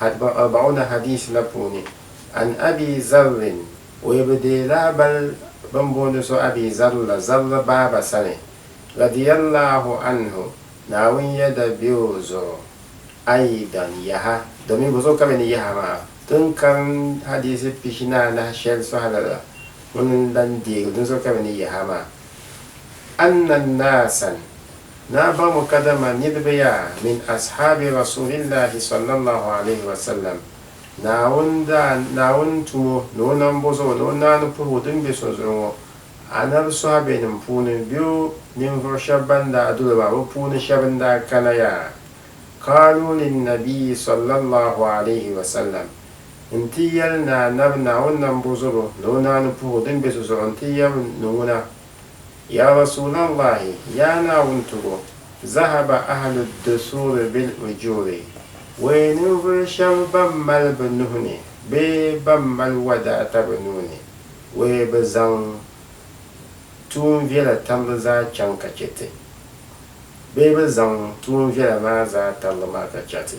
Arba'una Hadiis la puuni, An Abi Zarrin, o yi bi deei lahabali bɛn booni so Abi Zarr la, Zarr baaba sani, radiyallahu anhu, Naawuni yɛda be o zuɣu, aydan yaha, domin bɛ zuɣu ka bɛ ni yahi maa, ti ni karim hadiisi pihinaanahi shɛli sɔhili la, ŋuni n-lan deegi din zuɣu ka bɛ ni yahi maa, Anna naasan, Naa ba ŋɔ kadama niriba yaa min ashaabi Rasuulillahi sallallahu alayhi wa sallam, Naawuni daa Naawuni tum o ni o nam bo zuɣu ni o naani puhigu din be so zuɣu ŋɔ, Anabi sɔhabenim puuni be o ninvuɣu shɛb ban daa doli ba bɛ puuni shɛb n daa kana yaa Qaaluu linnabiyyi sallallahu alayhi wa sallam n ti yɛli ni Anabi Naawuni nam bo zuɣu ni o naani puhigu din be so zuɣu n ti yɛm ni ŋuna Ya Rasuulallaahi, yaa Naawuni tubo, zahaba ahlu dusuuri bil ujuuri, wee ninvuɣu shɛm bɛn mali bɛ nuhi ni bee bɛn mali wadaata bɛ nuu ni, wee bɛ zaŋ tuun viɛla tambu zaa chaŋ ka chɛ ti, bee bɛ zaŋ tuun viɛla maa zaa tambu maa ka chɛ ti.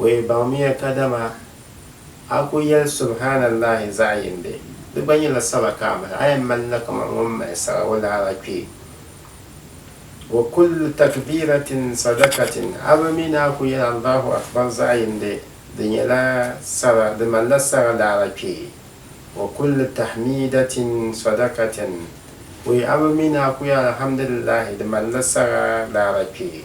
O yi baŋmiya kadama a ku yɛli Subhaanallaahi zaɣ yindi, di gba nyɛla sala ka a mali, a yɛn malila kaman ŋun mali sara o laara kpee. Wa kullu takbiiratin sadakatin, a bi mi ni a ku yɛli Allaahu Akbar zaɣ yindi, di nyɛla sara, di malila sara laara kpee. Wa kullu tahmiidatin sadakatin, o yi a bi mi ni a ku yɛli Alhamdulillaahi, di malila sara laara kpee.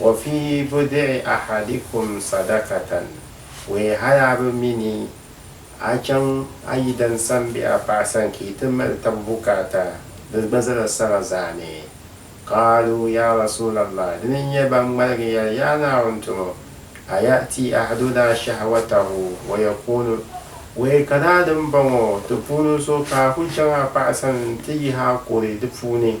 Wa fi budi'i ahadikum sadakatan, wee haya bi mi ni a chaŋ a yidan san bɛ a paɣa sani ka yi ti mali tab bukaata, di gba zala sara zaa ni. Qaalu, Ya Rasuulallah! Di ni nyɛ ban ŋmaligi yɛli, Yaa Naawuni tumo! Aya'ti ahadunaa shahwatahu wa yakuunu, wee ka daa dimbɔŋɔ ti puuni so ka a ku chaŋ a paɣa sani nti yihi a kuri di puuni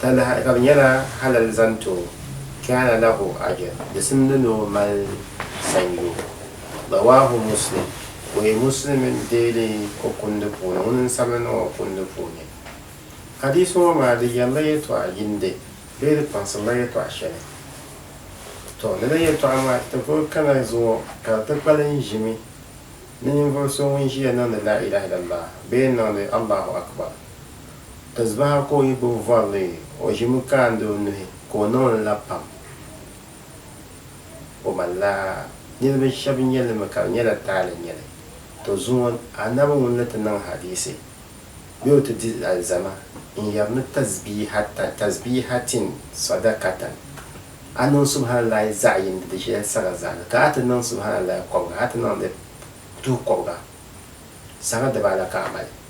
Talahi ka bɛ nyɛla halal zaŋ ti o, kaana lahu ajr, di simdi ni o mali sanyoo. Rawaahu Muslim, Buyi Muslim n-deeli o kundi puuni, ŋuni n-sabigi niŋ o kundi puuni. Hadiisi ŋɔ maa di yɛlila yɛltɔɣa yindi bee di kpaŋsirila yɛltɔɣa shɛli. Tɔ! Lala yɛltɔɣa maa ti vuri kana zuŋɔ ka di ti kpali n ʒimi ni ninvuɣ so ŋun ʒiya niŋdi Laa ilaah illallah bee n-niŋdi Allahu Akbar. Tazbaha ka o yi gbubi vorili, o ʒimi kaandi o nuhi ka o niŋli la pam. O malila niriba shɛb nyɛ li mi ka di nyɛla taali n-nyɛ li. Tɔ zuŋɔ Annabi ŋun ni ti niŋ hadiisi bee o ti di alizama n-yɛri ni tazbiihatan, tazbiihatin, sadakatan, a niŋ Subhanallaahi zaɣ yini di di shɛli saga zaani, ka a ti niŋ Subhanallaahi kɔbiga, a ti niŋdi tuhi kɔbiga, saga dibaata ka a mali.